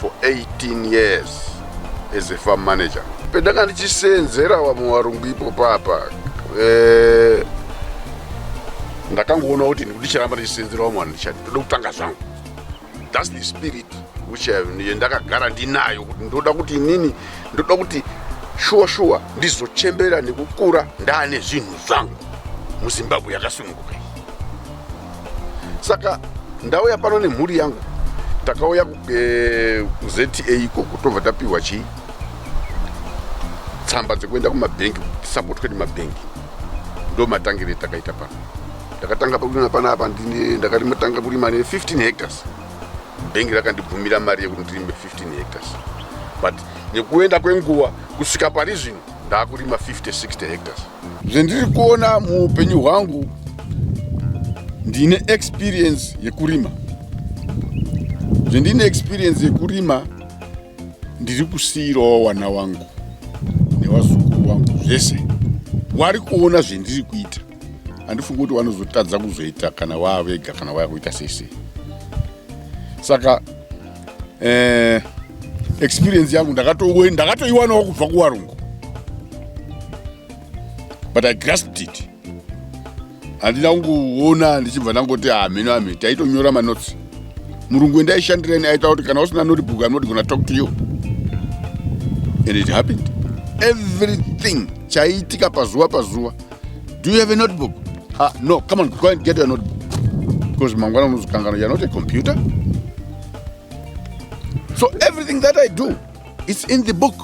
for 18 years as a farm manager pendanga ndichiseenzera vamwe varungu ipo papa eh, ndakangoona kuti ndicharamba ndichiseenzera vamwe vanhu ndichati ndoda kutanga zvangu thats the spirit which ndakagara ndinayo kuti ndoda kuti inini ndoda kuti shuwa shuwa ndizochembera nekukura ndaane zvinhu zvangu muzimbabwe yakasununguka saka ndauya pano nemhuri yangu takauya eh, kuzta ikoko tobva tapihwa chii tsamba dzekuenda kumabhengi tisapotwe nemabhengi ndo matangire takaita pano ndakatanga pakurima pana apa ndakamatanga kurima ne 15 hectares bhengi rakandibvumira mari yekuti ndirime 15 hectares but nekuenda kwenguva kusvika pari zvino ndakurima 50 60 hectares zvendiri kuona muupenyu hwangu ndine experience yekurima zvendine experience yekurima ndiri kusiirawo wana wangu newazukuru wangu zvese wari kuona zvendiri kuita handifungi kuti vanozotadza kuzoita kana waavega kana waya kuita sese saka eh, experience yangu ndakatoiwanawo ndakato kubva kuvarungu but i grasped it handina kungoona ndichibva ndangoti hamheno ah, hame taitonyora manotsi murungu endaishandirani aita kuti kana usina notebook i'm not gona talk to you and it happened everything chaiitika pazuva pazuva Do you have a notebook? Uh, no, come on, go and get your notebook. Because Mangwana Muzukangana, you're not a computer. So everything that I do, it's in the book.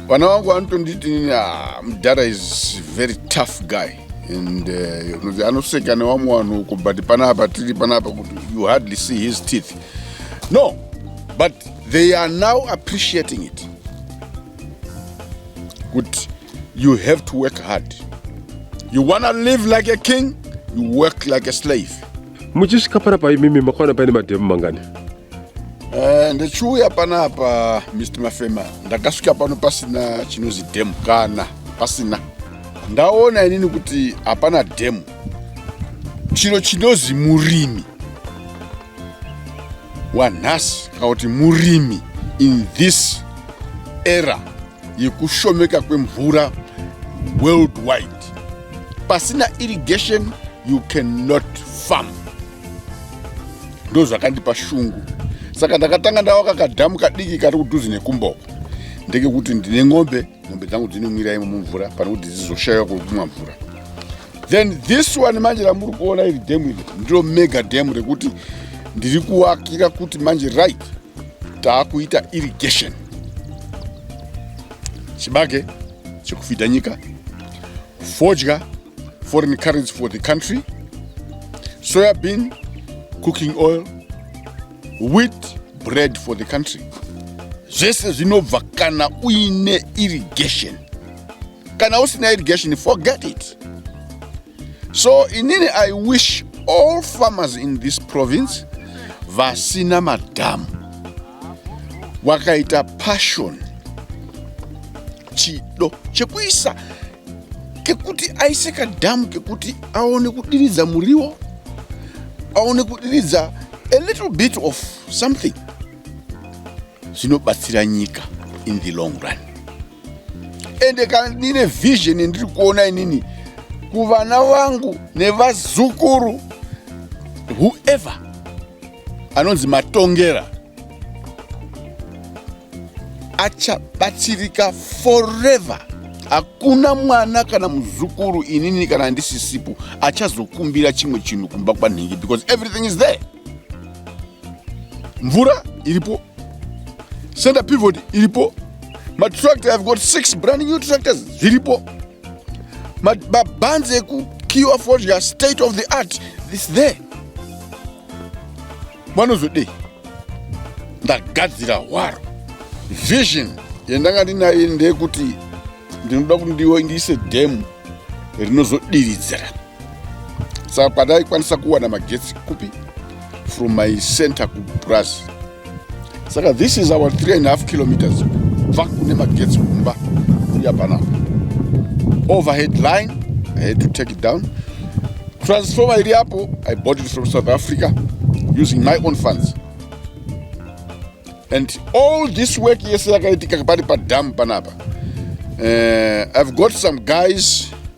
Vana wangu vanotonditi ah, mdhara is very tough guy and uh, anoseka nevamwe vanhu uko but panapa tiri panapa kuti you hardly see his teeth no but they are now appreciating it kuti you have to work hard you wanna live like a king you work like a slave muchisvika pana pa imimi makaona paine madhemu mangani eh, ndichiuya panapa mr mafema ndakasvika pano pasina chinozi dhemu kana pasina ndaona inini kuti hapana dhemu chiro chinozi murimi wanhasi kana kuti murimi in this era yekushomeka kwemvura worldwide pasina irrigation you cannot farm ndo zvakandipa shungu saka ndakatanga ndawaka kadhamu kadiki kari kudhuzi nekumboko ndekekuti ndine ng'ombe ng'ombe dzangu dzinonwira imo mumvura pane kuti dzizoshaiwa kwekumwa mvura then this one manje ramuri kuona iri dam iri ndiro mega dam rekuti ndiri kuakira kuti manje right taakuita irrigation chibage chekufidha nyika fodya foreign currency for the country soya bean cooking oil wheat bread for the country zvese zvinobva kana uine irrigation kana usina irrigation forget it so inini i wish all farmers in this province vasina madhamu wakaita passion chido chekuisa kekuti aise kadhamu kekuti aone kudiridza muriwo aone kudiridza a little bit of something zvinobatsira nyika in the long run ende kana ndine vision ndiri kuona inini kuvana vangu nevazukuru whoever anonzi matongera achabatsirika forever hakuna mwana kana muzukuru inini kana ndisisipo achazokumbira chimwe chinhu kumba kwanhingi because everything is there mvura iripo center pivot iripo matractor have got six brand new tractors zviripo mabhanzi ekukiwa fodya state of the art this there vanozodei ndagadzira hwaro vision yandanga ndinayo ndeyekuti ndinoda kuti ndiise dhemu rinozodiridzira saka pandaikwanisa kuwana magetsi kupi from my center kupurazi saka this is our 3 and half kilometers kubva kune magetsi kumba kuya panapa overhead line i had to take it down transformer iri apo i bought it from south africa using my own funds and all this work yese yakaitika pari padam panapa uh, i've got some guys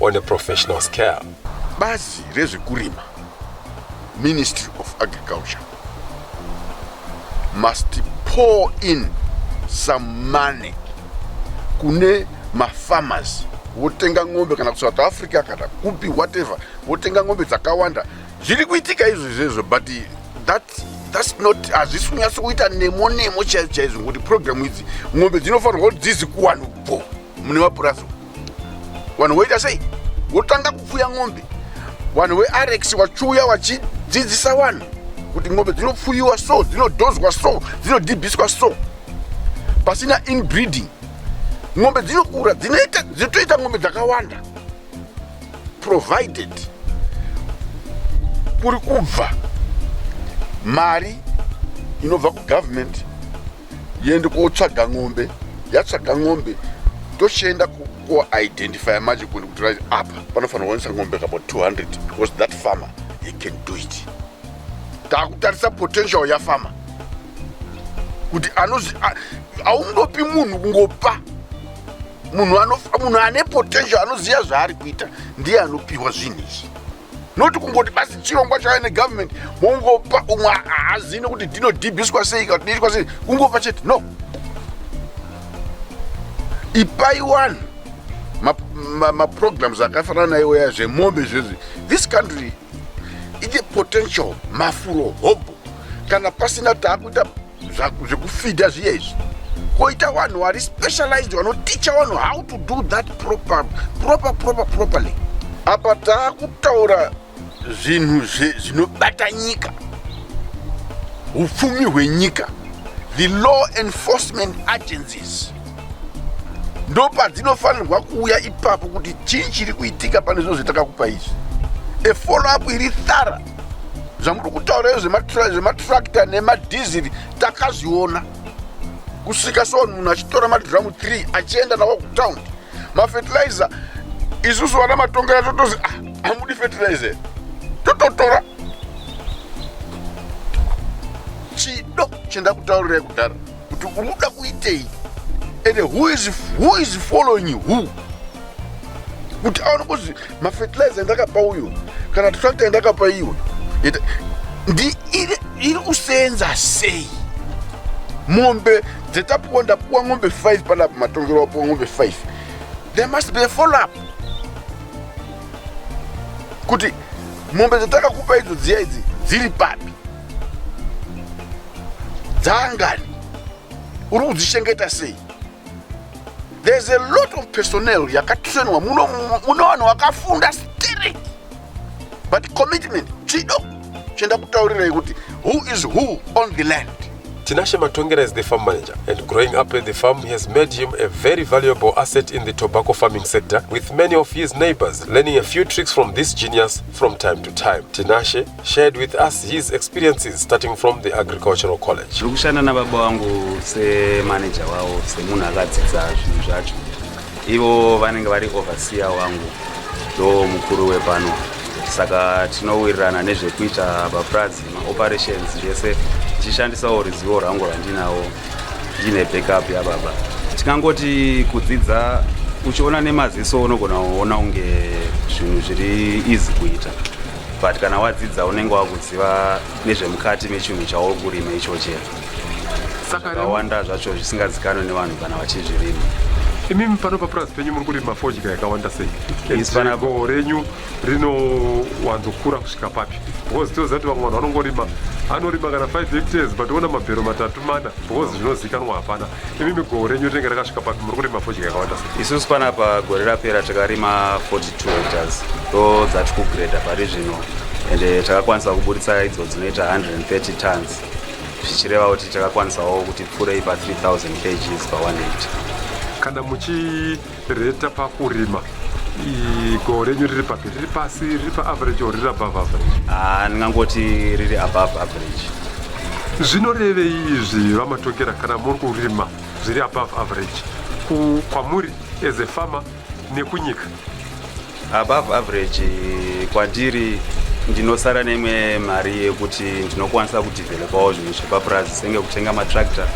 on a professional scale. Bazi rezvekurima, Ministry of Agriculture, must pour in some money kune mafarmers votenga ng'ombe kana kusouth africa kana kupi whatever votenga ng'ombe dzakawanda zviri kuitika izvo izvezvo but that thats not hazvisi kunyatso kuita nemo nemo chaizvo chaizvo ngokuti programu idzi ng'ombe dzinofanirwa kuti dzizi kuwanubho mune mapurazi vanhu voita sei votanga kupfuya mombe vanhu vearex vachiuya vachidzidzisa vanhu kuti mombe dzinopfuyiwa so dzinodhozwa so dzinodhibhiswa so pasina inbreeding mombe dzinokura dzinoita dzinotoita mombe dzakawanda provided kuri kubva mari inobva kugovernment yende kotsvaga ng'ombe yatsvaga ng'ombe tochienda kuidentifya manje kundi kuti rit apa panofanira kuwanisa ng'ombe kabo 200 because that farmer he can do it takutarisa potential yafarmer kuti anozi aungopi munhu kungopa munhu ane potential anoziva zvaari kuita ndiye anopiwa zvinhu izvi not kungoti basi chirongwa chave negovernment mongopa umwe haazivi nekuti dhinodhibhiswa sei kana kudiitwa sei kungopa chete no ipai wani maprograms ma, ma akafanana naiwo ya zvemombe zvezvi this country ine potential mafuro hobho kana pasina taakuita zvekufidha zviya izvi koita vanhu vari specialized vanoticha vanhu how to do that proper proper proper properly apa taakutaura zvinhu zvinobata nyika upfumi hwenyika the law enforcement agencies ndopadzinofanirwa kuuya ipapo kuti chii chiri kuitika pane zvinhu zvatakakupa izvi efollow up iri thara zvamuri kutaura zvematrakta nemadhiziri takazviona kusvika so munhu achitora madhiramu 3 achienda nawo kutown mafetilizer isusu vana matongera totozi ah, hamudi fetilizer tototora chido chendakutaurirai kudhara kuti unoda kuitei and who is, who is following who kuti aone kuzi mafertilizer endakapa uyo kana tractor endakapa iwe iri kusenza sei mombe dzatapuwa ndapuwa ng'ombe 5 panapo matongero wapuwa ng'ombe 5 there must be a follow up kuti mombe dzatakakupa idzo dziya idzi dziri papi dzaangani uri kudzichengeta sei there's a lot of personnel yakatrainwa muno muno vanhu vakafunda stiri but commitment chido chienda kutaurirai kuti who is who on the land Tinashe Matongera is the farm manager, and growing up at the farm has made him a very valuable asset in the tobacco farming sector, with many of his neighbors learning a few tricks from this genius from time to time. Tinashe shared with us his experiences starting from the agricultural college tiri kushanda nababa wangu semanaja wavo semunhu akadzidza zvinhu zvacho ivo vanenge vari overseer wangu ndo mukuru wepano saka tinowirirana nezvekuita bapurazi maoperations yese tichishandisawo ruzivo rwangu rwandinawo ndiine backup yababa tikangoti kudzidza uchiona nemaziso unogona kuona unge zvinhu zviri easy kuita but kana wadzidza unenge wakuziva nezvemukati mechinhu chauri kurima ichoche zvakawanda zvacho zvisingazikanwe nevanhu kana vachizvirima imimi pano papurazi penyu muri kurima fodya yakawanda sei goho renyu rinowanzokura kusvika papi because tinoziva kuti vamwe vanhu vanongorima anorima kana 5 hectares but ona mabhero matatu mana because zvinozikanwa hapana Imi migoro renyu rinenge rakasvika papi muri kurima fodya yakawanda sei? Isusu panapa gore rapera takarima 42 hectares ndo dzati kugreda pari zvino ende takakwanisa kuburitsa idzo dzinoita 130 tons zvichireva kuti takakwanisawo kuti pfuurei pa 3000 kgs pa 1 hectare. Kana muchi Reta pakurima goho renyu riri papi riri pasi riri paaverage or riri above average ah, ndingangoti riri above average zvinorevei izvi vamatokera kana muri kurima zviri above average kwamuri as a farmer nekunyika Above average kwandiri ndinosara neimwe mari yekuti ndinokwanisa kudevelopawo zvinhu zvepapurazi senge kutenga matractor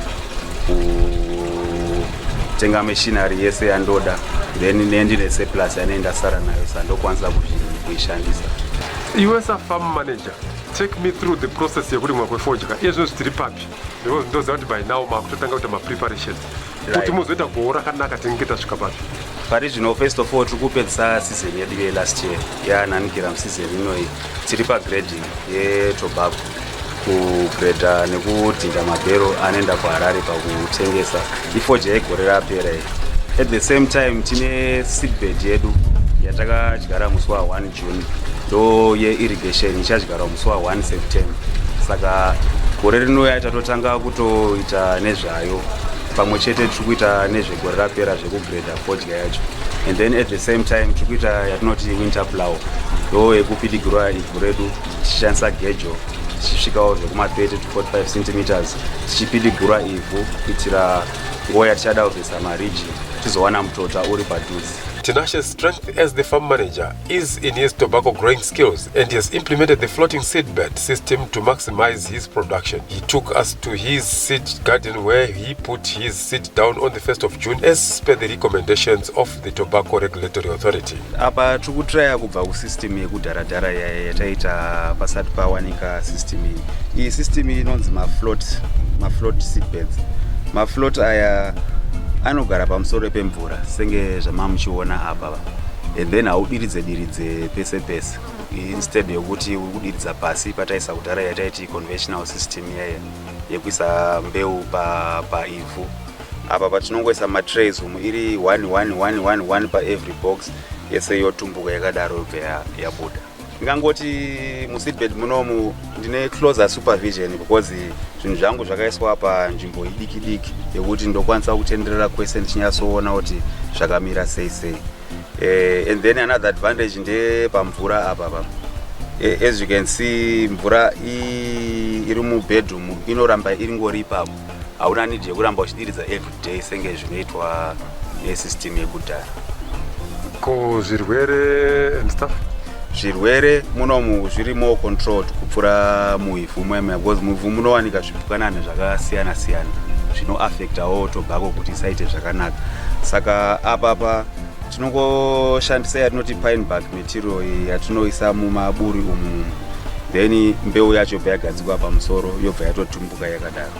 kutenga machinery yese yandoda then nendine seplus yanei ndasara nayo sa ndokwanisa kuishandisa iwe safarm manager take me through the process yekurimwa kwefodya iye zvino zvitiri papi because ndoziva kuti by now makutotanga kuita mapreparations kuti muzoita goho rakanaka tinenge tasvika papi pari zvino first of all tiri kupedzisa season yedu yelast year yaananikira museason inoyi tiri pagrading yetobago kugreda nekudhinda mabhero anoenda kuharare pakutengesa ifoja yegore rapera iyi at the same time tine seedbed yedu yatakadyara musi wa1 June ndo yeirrigation ichadyarwa musi wa 1 September saka gore rinouya tatotanga kutoita nezvayo pamwe chete tiri kuita nezvegore rapera zvekugreda fodya yacho and then at the same time tiri kuita yatinoti winter plow ndo yekupidigirwa ivhu redu tichishandisa gejo tichisvikawo zvekuma 30 to 45 centimeters tichipidigirwa ivhu kuitira nguva yatichada kuvhesa mariji tizowana mutota uri padhuze Tinashe's strength as the farm manager is in his tobacco growing skills and he has implemented the floating seed bed system to maximize his production. He took us to his seed garden where he put his seed down on the 1st of June as per the recommendations of the Tobacco Regulatory Authority. Apa tiri kutraya kubva kusystem yekudharadhara yataita pasati pawanika system iyi. Iyi system inonzi mafloat, mafloat seed beds. Mafloat aya anogara pamusoro pemvura. mvura senge zvamamuchiona apa and then haudiridze diridze pese pese instead yokuti uri kudiridza pasi pataisa kudhara yataiti conventional system yeye yekuisa mbeu paivhu pa apa patinongoisa matrays umu iri one one one one one paevery box yese yotumbuka yakadaro yobva yabuda ndingangoti museatbelt munomu ndine closer supervision because zvinhu zvangu zvakaiswa panzvimbo idiki diki yekuti ndokwanisa kutenderera kwese ndichinyatsoona kuti zvakamira sei sei eh, and then another advantage ndepamvura apa pa eh, as you can see mvura iri mubedroom inoramba iringori ipapo hauna nidi yekuramba uchidiridza every day senge zvinoitwa nesystem yekudhara ko zvirwere and stuff zvirwere munomu zviri more controlled kupfuura muivhu mwemwe because muivhu munowanika zvipukanana zvakasiyana siyana zvinoaffectawo tobhako kuti isaite zvakanaka saka apapa tinongoshandisa yatinoti pine bark material iyi yatinoisa mumaburi umu then mbeu yacho bva yagadzikwa pamusoro yobva yatotumbuka yakadaro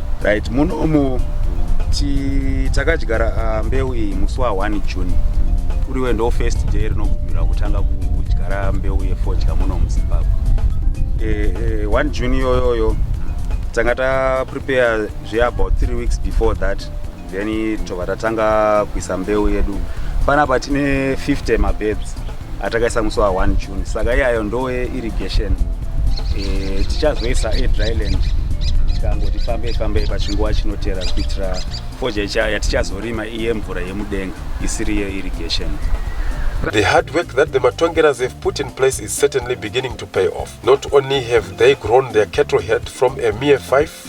right muno umu takadyara ah, mbeu iyi musi wa 1 june kuriwe ndo first day rinogumirwa kutanga kudyara mbeu yefodya muno muzimbabwe eh, eh, one june iyoyoyo tanga taprepare zveabout three weeks before that then tobva tatanga kuisa mbeu yedu panapa tine 50 mabebs atakaisa musi wa 1 june saka iyayo ndowe irrigation e, tichazoisa edryland tikangoti fambei fambei pachinguva chinotera kuitira foja yatichazorima iye mvura yemudenga isiri yeirrigation The hard work that the Matongeras have put in place is certainly beginning to pay off. Not only have they grown their cattle herd from a mere five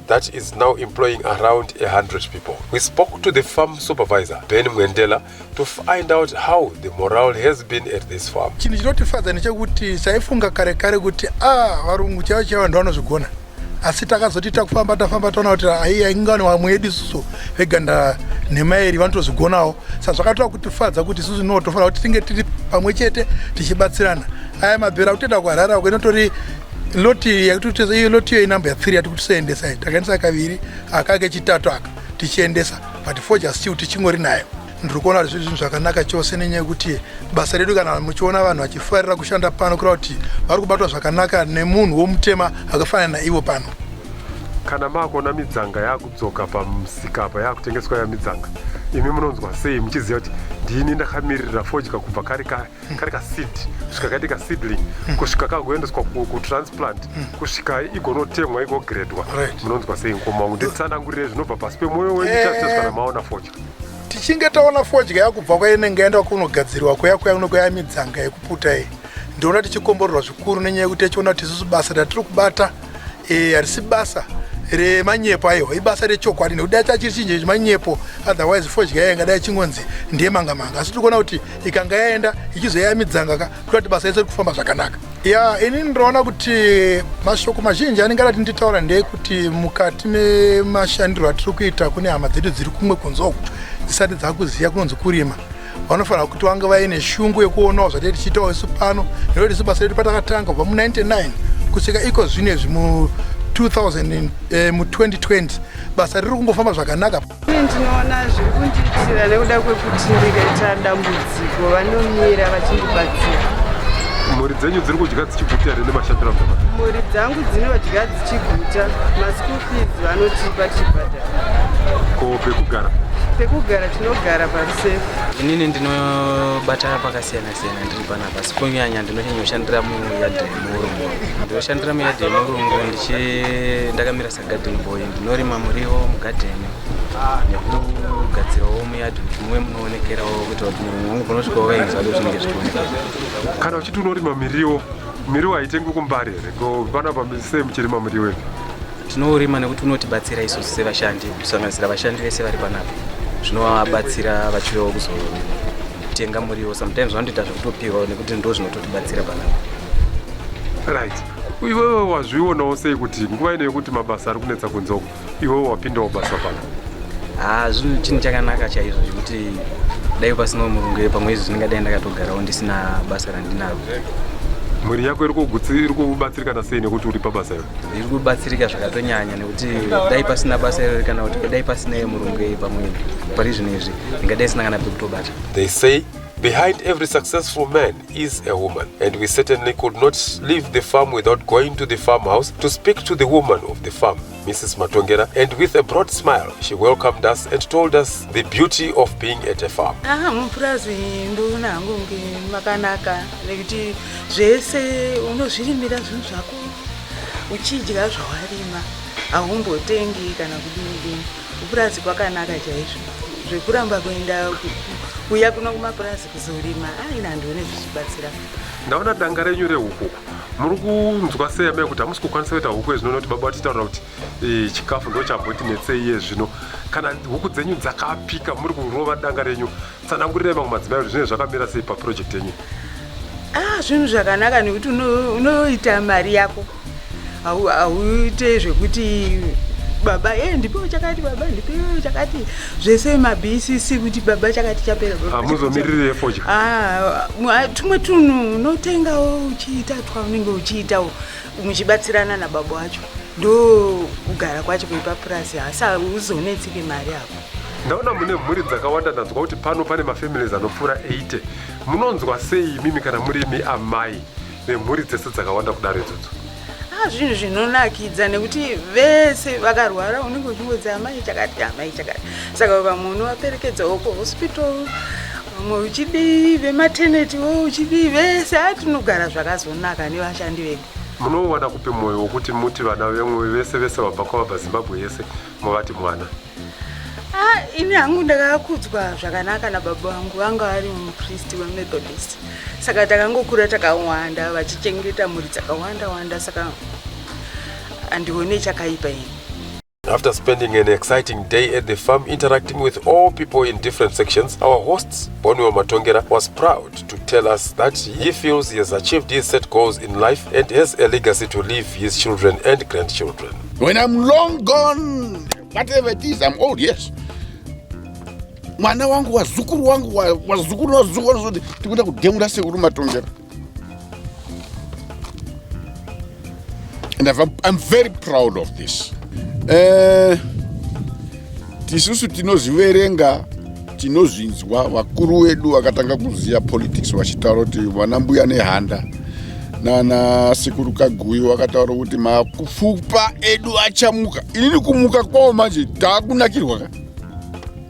that is now employing around 100 people. We spoke to the farm supervisor, Ben Mwendela, to find out how the morale has been at this farm. Chinhu chinotifadza ndechekuti taifunga kare kare kuti ah varungu chaivo chaivo vanhu vanozvigona asi takazoti takufamba tafamba taona kuti aiya ingani vamwe yedu isusu veganda nhema iri vanotozvigonawo sa zvakatora kutifadza kuti isusu noo tofanira kuti tinge tiri pamwe chete tichibatsirana aya mabhera kutenda kuharara ko inotori loti yakutitesa iyo loti iyo inumber ya 3 yati kuti soendesa iyi takaendesa kaviri aka kechitatu aka tichiendesa but for just still tichingori nayo ndiri kuona kuti zvinhu zvakanaka chose nenyaya yekuti basa redu kana muchiona vanhu vachifarira kushanda pano kureva kuti vari kubatwa zvakanaka nemunhu womutema akafanana naivo pano kana makuona midzanga yakudzoka pamusika apa yakutengeswa ya midzanga imi munonzwa sei muchiziva kuti ndini ndakamiririra fodya kubva kare kare kari kaseed kusvika kaite kaseedling mm. kusvika kagoendeswa kutransplant mm. kusvika igonotemwa igogredwa munonzwa sei mukoma wangu nditsanangurire zvinobva pasi pemwoyo wenyu eh. chazvita zvikana maona fodya tichinge taona fodya yakubva kwainenge yaenda kunogadzirwa kuya kuya kuno kwaya midzanga yekuputa iyi ndoona tichikomborerwa zvikuru nenyaya yekuti yachiona kuti isusu basa ratiri kubata eh, harisi basa remanyepo aiwa ibasa rechokwadi nekuti dai chachiri chinje chemanyepo otherwise fodya yaya ingadai chingonzi ndiye manga manga asi tiri kuona kuti ikanga yaenda ichizoyamidzanga ka kuita kuti basa rese ri kufamba zvakanaka ya ini ndinoona kuti mashoko mazhinji anenge adati nditaura ndeyekuti mukati memashandiro atiri kuita kune hama dzedu dziri kumwe kunze uku dzisati dzakuziva kunonzi kurima vanofanira kuti vange vaine shungu yekuonawo zvatee tichiitawo isu pano nekuti isu basa redu patakatanga kubva mu99 kusvika iko zvino izvi mu 2020 eh, basa riri kungofamba zvakanaka ini ndinoona zviri kundiitira nekuda kwekuti ndikaita dambudziko vanomira vachindibatsira mhuri dzenyu dziri kudya dzichiguta here nemashandiro amama mhuri dzangu dzinodya dzichiguta maschool fees vanotipa tichibhadhara ko pekugara pekugara tinogara pa Inini ndinobata pakasiyana siyana ndiri panapa asi kunyanya ndinonyanyoshandira muyadhi yemurungu ndinoshandira muyadhi yemurungu ndichi ndakamira sagadhen boy ndinorima muriwo mugadheni nekugadzirawo muyadhi kuti muve munoonekerawo kuti kuti murungu wangu kunosvika wakainzwa do zvinenge zvichionekera kana uchiti unorima miriwo miriwo haitengwi kumbari here ko panapa sei muchirima muriwo ipi Tinourima nekuti unotibatsira isusu sevashandi kusanganisira vashandi vese vari panapa zvinovabatsira vachiuyawo kuzotenga muriwo sometimes vanotoita zvekutopiwa nekuti ndo zvinototibatsira panapa right iwewe wazvionawo sei kuti nguva ino yekuti mabasa ari kunetsa kunze uko iwewe wapindawo basa pano ha zvinhu chinhu chakanaka chaizvo zvekuti dai pasinawo murungu pamwe izvi zvinenge dai ndakatogarawo ndisina basa randinaro mhuri yako iri kubatsirikana sei nekuti uri pabasa iro Ndiri kubatsirika zvakatonyanya nekuti dai pasina basa irori kana kuti dai pasina yemurungu pamwe pari zvino izvi ndingadai sina kana pekutobata. They say Behind every successful man is a woman, and we certainly could not leave the farm without going to the farmhouse to speak to the woman of the farm, Mrs. Matongera, and with a broad smile, she welcomed us and told us the beauty of being at a farm. Aha, mupurazi ndona hangu makanaka nekuti zvese unozvirimira zvinhu zvako uchidya zvawarima haumbotengi kana kudini dini kupurazi kwakanaka chaizvo zvekuramba kuenda kuya kuno kumapurazi kuzorima aina handu one zvichibatsira ndaona danga renyu rehuku muri kunzwa sei amai kuti hamusi kukwanisa kuita huku yezvino nokuti baba vatitaura kuti eh, chikafu ndo chamboti netsei yezvino kana huku dzenyu dzakapika muri kurova danga renyu tsanangurirai mamwe madzimai kuti zvinenge zvakamira sei paproject yenyu ah zvinhu zvakanaka nekuti unoita mari yako hauite zvekuti baba e ndipewo chakati baba ndipewo chakati zvese mabcc kuti baba chakati chapera hamuzomiririre fodya ah, ah, tumwe tunhu unotengawo uchiita twa unenge uchiitawo muchibatsirana nababa wacho ndo kugara kwacho kwepapurazi hasa uzonetsike mari ako Ndaona mune mhuri dzakawanda ndanzwa kuti pano pane mafamilies anopfuura 80. Munonzwa sei imimi kana muri imi amai vemhuri dzese dzakawanda kudaro idzodzo? Ah, zvinhu zvinonakidza nekuti vese vakarwara unenge uchingodzi amai chakati amai chakati saka vamwe unovaperekedzawo kuhospital vamwe uchidii vemateneti wo uchidii vese a tinogara zvakazonaka nevashandi vedu munowana kupi mwoyo wokuti muti vana vemwe vese vese vabva kwavabva zimbabwe yese Mavati mwana. Ah, ini hangu ndakakudzwa zvakanaka nababa vangu vanga vari mupristi wemethodist saka takangokura takawanda vachichengeta mhuri dzakawanda wanda saka handione chakaipa ini After spending an exciting day at the farm interacting with all people in different sections, our hosts, Boniwa Matongera, was proud to tell us that he feels he has achieved his set goals in life and has a legacy to leave his children and grandchildren. When I'm long gone, whatever it is, I'm old, yes. mwana wangu wazukuru wangu wazukuru wazukuru wanozoti tikuenda kudemura sekuru matongera and I'm very proud of this uh, tisusu tinozviverenga tinozvinzwa vakuru wedu vakatanga kuziva politics vachitaura kuti vana mbuya nehanda nana sekuru kaguyi vakataura kuti mapfupa edu achamuka inini kumuka kwavo manje taakunakirwa ka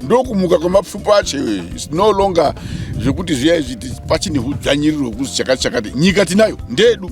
ndokumuka kwemapfupa acho is no longer zvekuti zviya izvi pachine hudzvanyiriro hwekuzi chakati chakati nyika tinayo ndedu